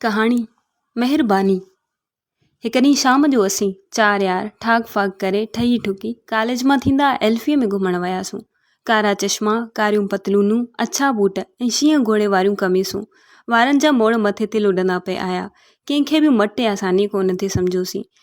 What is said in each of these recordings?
ڪهاڻي، مهرباني! هڪ ڏينهن شام جو اسين چار يار ٺاڪ ڦاڪ ڪري ٺهي ٺڪي ڪاليج مان ٿيندا ايلفيء ۾ گهمڻ وياسون. ڪارا چشما، ڪاريون پتلونون، اڇا بوٽ ۽ شينهن گهوڙي واريون قميصون. وارن جا موڙ مٿي تي لڏندا پئي آيا. ڪنهن کي به مٽ يا ساني ڪونه ٿي سمجهيوسين.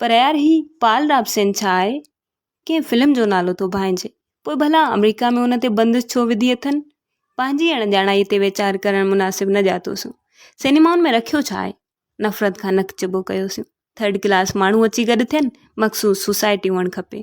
پر يار هي پال رابسين ڇا آهي ڪنهن فلم جو نالو ٿو ڀانئجي پوء ڀلا آمريڪا ۾ ان تي بندش ڇو وڌي اٿن پنهنجي اڻڄاڻائي تي ويچار ڪرڻ مناسب نه ڄاتوسون سينيمائن ۾ رکيو ڇا آهي نفرت کان نڪ چٻو ڪيوسون ٿرڊ ڪلاس ماڻهو اچي گڏ ٿين مخصوص سوسائٽي هئڻ کپي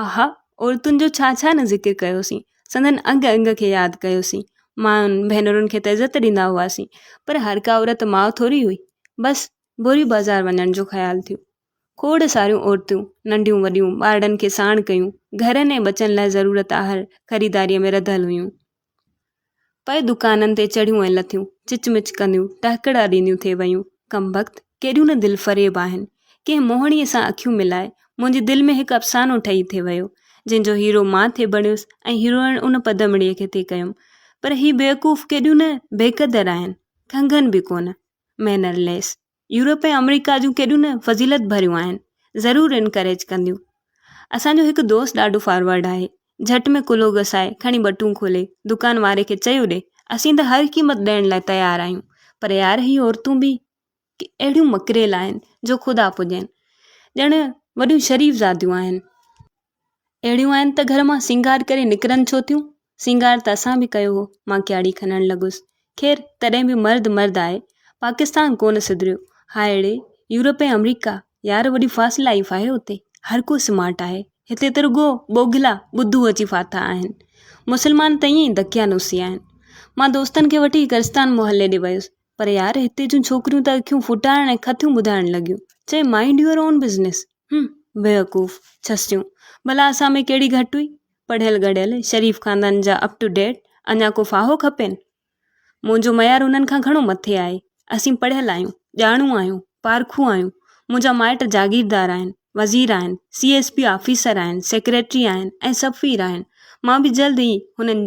اها عورتن جو ڇا ڇا نه ذڪر ڪيوسين، سندن انگ انگ کي ياد ڪيوسين، ماين ڀينرن کي ته عزت ڏيندا هئاسين، پر هر ڪا عورت ماء ٿوري هئي، بس ڀوري بازار وڃڻ جو خيال ٿيو. کوڙ ساريون عورتون ننڍيون وڏيون ٻارڙن کي ساڻ ڪيون، گهرن ۽ ٻچن لاء ضرورت آهر خريداريء ۾ رڌل هيون. پوء دڪانن تي چڙهيون ۽ لٿيون، چچ مچ ڪنديون، ٽهڪڙا ڏينديون ٿي ويون. ڪمبخت، ڪيڏيون نه دلفريب آهن! ڪنهن موهڻيء سان اکيون ملائي، منهنجي دل ۾ هڪ افسانو ٺهي ٿي ويو، جنهن جو هيرو مان ٿي بڻيس ۽ هيروئڻ ان پدمڙيء کي ٿي ڪيم. پر هي بيوقوف ڪيڏيون نه بيقدر آهن! کنگهن به ڪونه. Mannerless. يورپ ۽ آمريڪا جون ڪيڏيون نه فضيلت ڀريون آهن ضرور انڪريج ڪنديون اسانجو هڪ دوست ڏاڍو فارورڊ آهي جهٽ ۾ ڪلهو گسائي کڻي ٻٽون کولي دڪان واري کي چيو ڏي اسين ته هر قيمت ڏيڻ لاء تيار آهيون پر يار هي عورتون به اهڙيون مڪريل آهن جو خدا پڄين ڄڻ وڏيون شريف زاديون آهن اهڙيون آهن ته گهر مان سينگار ڪري نڪرن ڇو ٿيون؟ سينگار ته اسان به ڪيو هو، مان ڪياڙي کنڻ لڳس. خير، تڏهن به مرد مرد آهي. پاڪستان ڪونه سڌريو. هائڙي، يورپ ۽ آمريڪا، يار وڏي فاسٽ لائيف آهي اتي. هر ڪو سمارٽ آهي. هتي ته رڳو ٻوگهلا ٻڌو اچي ڦاٿا آهن. مسلمان ته ائين ئي دڪيا نوسي آهن. مان دوستن کي وٺي گرستان محلي ڏي ويس، پر يار هتي جون ڇوڪريون ته اکيون ڦٽائڻ ۽ کٿيون ٻڌائڻ لڳيون. چيائين مائنڊ يوئر اون بزنس. هم، بيوقوف، ڇسيون، ڀلا اسان ۾ ڪهڙي گهٽ هئي؟ پڙهيل ڳڙهيل، شريف خاندان جا اپ ٽو ڊيٽ، اڃا ڪو ڦاهو کپين؟ منهنجو معيار انهن کان گهڻو مٿي آهي. اسين پڙهيل آهيون، ڄاڻو آهيون، پارکو آهيون. منهنجا مائٽ جاگيردار آهن، وزير آهن، سي ايس پي آفيسر آهن، سيڪريٽري آهن ۽ سفير آهن. مان به جلد ئي هنن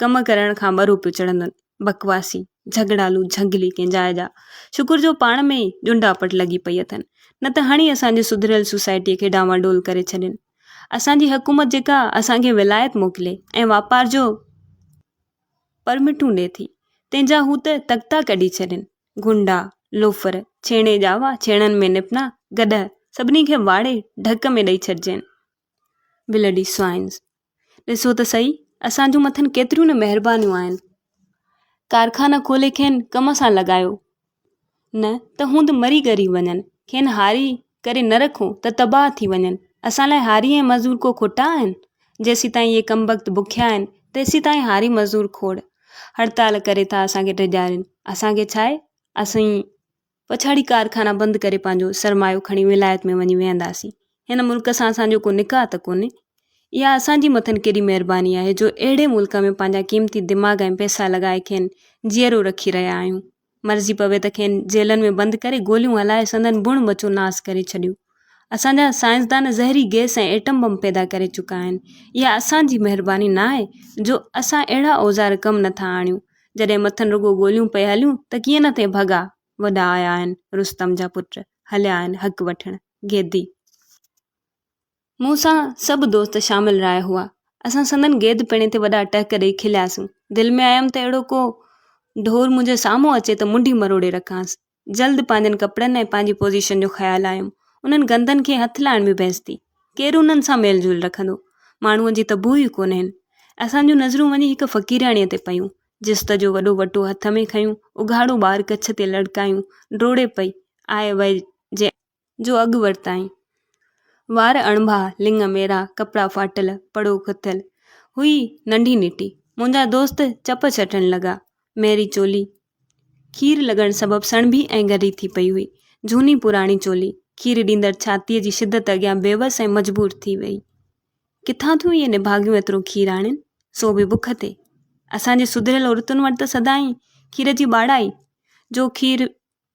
ڪم ڪرڻ کان ٻه روپيو چڙهندن. بڪواسي، جهڳڙالو، جهنگلي ڪنهن جاء جا. شڪر جو پاڻ ۾ ئي ڄنڊاپٽ لڳي پئي اٿن. نه ته هڻي اسان جي سڌريل سوسائٽيء کي ڊانواڊول ڪري ڇڏين. اسان جي حڪومت جيڪا اسان کي ولايت موڪلي ۽ واپار جو پرمٽون ڏي ٿي، تنهن جا هو ته تختا ڪڍي ڇڏين. گنڊا، لوفر، ڇيڻي ڄاوا، ڇيڻن ۾ نپنا، گڏهه، سڀني کي واڙي ڍڪ ۾ ڏئي ڇڏجين. ولڊي سوائنز ڏسو ته سهي اسان جون مٿن ڪيتريون نه مهربانيون آهن ڪارخانا کولي کين ڪم سان لڳايو نه ته هوند مري ڳري وڃن کين هاري ڪري نه رکو ته تباهه ٿي وڃن اسان لاء هاري ۽ مزور ڪو کوٽا آهن جيسين تائين اهي ڪم بخت بکيا آهن تيسين تائين هاري مزور کوڙ هڙتال ڪري ٿا اسان کي ڊيڄارين اسان کي ڇا آهي اسين پڇاڙي ڪارخانا بند ڪري پنهنجو سرمايو کڻي ولايت ۾ وڃي ويهنداسين هن ملڪ سان اسان جو ڪو نڪاح ته ڪونهي اها اسان جي مٿن ڪيڏي مهرباني آهي جو اهڙي ملڪ ۾ پنهنجا قيمتي دماغ ۽ پئسا لڳائي کين جيئرو رکي رهيا آهيون مرضي پوي ته کين جيلن ۾ بند ڪري گوليون هلائي سندن بڻ ٻچو ناس ڪري ڇڏيون اسان جا سائنسدان زهري گئس ۽ ايٽم بم پيدا ڪري چڪا آهن اها اسان جي مهرباني نه آهي جو اسان اهڙا اوزار ڪم نه ٿا آڻيون جڏهن مٿن رڳو گوليون پئي هليون ته ڪيئن نه ٿئي ڀڳا وڏا آيا آهن رستم جا پٽ هليا آهن حق وٺڻ گيدي مون سان سڀ دوست شامل راء هئا اسان سندن گيد پيڻي تي وڏا ٽهڪ ڏيئي کلياسون دل ۾ آيم ته اهڙو ڪو ڍور منهنجي سامهون اچي ته منڊي مروڙي رکانس جلد پنهنجن ڪپڙن ۽ پنهنجي پوزيشن جو خيال آيم. انهن گندن کي هٿ لائڻ ۾ بحث ٿي. ڪير انهن سان ميل جول رکندو. ماڻهوء جي ته بوء ئي ڪونهين. اسان جون نظرون وڃي هڪ فقيرياڻيء تي پيون. جست جو وڏو وٽو هٿ ۾ کنيو، اگهاڙو ٻار ڪڇ تي لڙڪايون، ڊوڙي پئي، آء وئي جي. جو اڳ ورتائين. وار اڻڀا، لڱ ميرا، ڪپڙا ڦاٽل، پڙو کٿيل، هئي ننڍي نٽي. منهنجا دوست چپ چٽڻ لڳا. ميري چولي کير لڳڻ سبب سڻڀي ۽ ڳري ٿي پئي هئي. جهوني پراڻي چولي، کير ڏيندڙ ڇاتيء جي شدت اڳيان بيوس ۽ مجبور ٿي ويئي. ڪٿان ٿيون اهي نڀاڳيون ايترو کير آڻين، سو به بک تي. اسان جي سڌريل عورتن وٽ ته سدائين کير جي ٻاڙا ئي، جو کير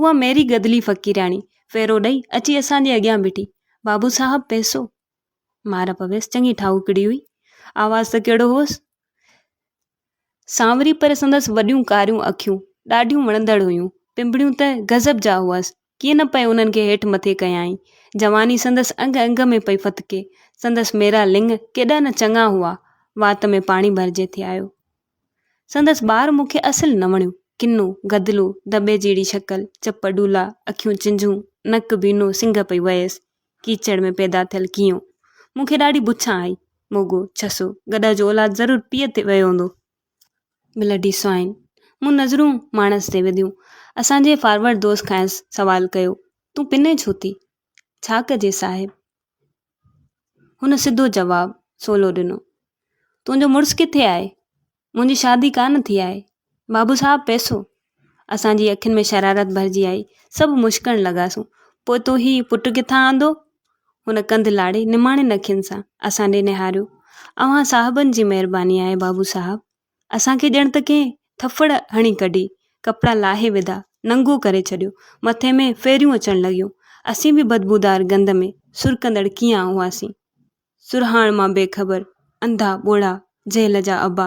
اها ميري گدلي فقيرياڻي ڦيرو ڏئي اچي اسان جي اڳيان بيٺي بابو صاحب پئسو مار پويس چڱي ٺاهوڪڙي هئي آواز ته ڪهڙو هوس سانوري پر سندس وڏيون ڪاريون اکيون ڏاڍيون وڻندڙ هيون پنبڙيون ته غضب جا هئس ڪيئن نه پئي انهن کي هيٺ مٿي ڪيائين جواني سندس انگ انگ ۾ پئي فتڪي سندس ميرا لنگ ڪيڏا نه چڱا هئا وات ۾ پاڻي ڀرجي ٿي آيو سندس ٻار مون کي اصل نه وڻيو. ڪنو، گدلو، دٻي جهڙي شڪل، چپ ڊولا، اکيون چنجهون، نڪ بينو، سنگهه پئي وهيس. ڪيچڙ ۾ پيدا ٿيل ڪيئو. مون کي ڏاڍي بڇان آئي. موڳو، ڇسو، گڏهه جو اولاد ضرور پيء تي ويو هوندو. Bloody swine. مون نظرون ماڻس تي وڌيون. اسان جي فارورڊ دوست کانئس سوال ڪيو، تون پنين ڇو ٿي؟ ڇا ڪجي صاحب! هن سڌو جواب سولو ڏنو. تنهنجو مڙس ڪٿي آهي؟ منهنجي شادي ڪانه ٿي آهي. بابو صاحب پئسو. اسان جي اکين ۾ شرارت ڀرجي آئي. سڀ مشڪڻ لڳاسون. پوء تو هي پٽ ڪٿان آندو؟ هن ڪنڌ لاڙي نماڻين اکين سان اسان ڏي نهاريو. اوهان صاحبن جي مهرباني آهي بابو صاحب. اسان کي ڄڻ ته ڪنهن ٿڦڙ هڻي ڪڍي، ڪپڙا لاهي وڌا، ننگو ڪري ڇڏيو، مٿي ۾ ڦيريون اچڻ لڳيون. اسين به بدبودار گند ۾ سرڪندڙ ڪيئان هئاسين؟ سرهاڻ مان بي خبر، انڌا، ٻوڙا، جهل جا ابا.